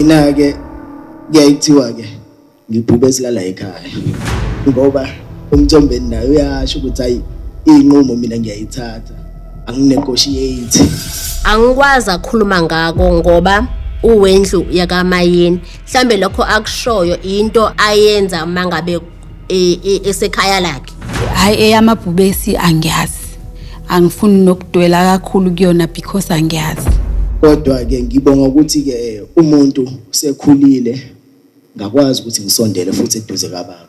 mina ke kuyayithiwa ke ngibhube esilala ekhaya ngoba umthombeni naye uyasho ukuthi hayi iyinqumo mina ngiyayithatha anginegotiate angikwazi akhuluma ngako ngoba uwendlu yakamayeni mhlambe lokho akushoyo into ayenza mangabe e- e- esekhaya lakhe hayi eyamabhubesi angiyazi angifuni nokudwela kakhulu kuyona because angiyazi Kodwa-ke ngibonga ukuthi-ke eh, umuntu sekhulile ngakwazi ukuthi ngisondele futhi eduze kababa.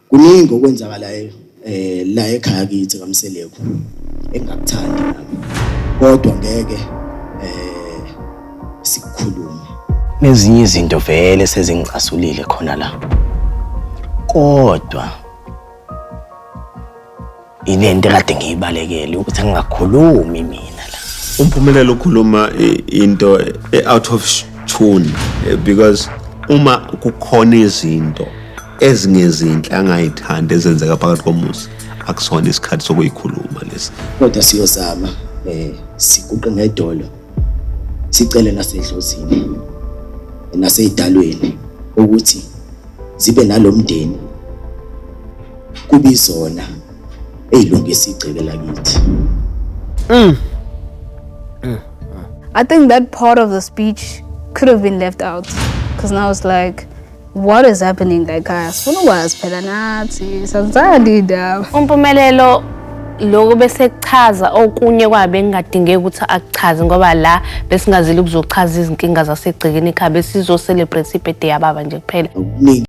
Kuningi okwenzakalayo eh la ekhaya kithi kaMseleku engakuthandi nami. Kodwa ngeke sikhulume. Nezinye izinto vele sezingicasulile khona la. Kodwa ile nto kade ngiyibalekele ukuthi angingakhulumi mina la. Umphumelelo ukhuluma into e-out of tune eh, because uma kukhona izinto ezingezinhle angayithandi ezenzeka phakathi komuzi akusona isikhathi sokuyikhuluma lesi kodwa siyozama eh siguqe ngedolo sicele nasedlozini naseyidalweni ukuthi zibe nalomndeni kube izona eyilungisa igceke lakithi mm. mm. I think that part of the speech could have been left out because now it's like What is happening la ekhaya? Sifuna ukwazi phela nathi. Sanzani indaba. Umpumelelo lokho bese kuchaza okunye kwabe engadingeki ukuthi akuchaze ngoba la besingazile ukuzochaza izinkinga zasegcekeni ekhaya besizo celebrate ibirthday yababa nje kuphela. Okuningi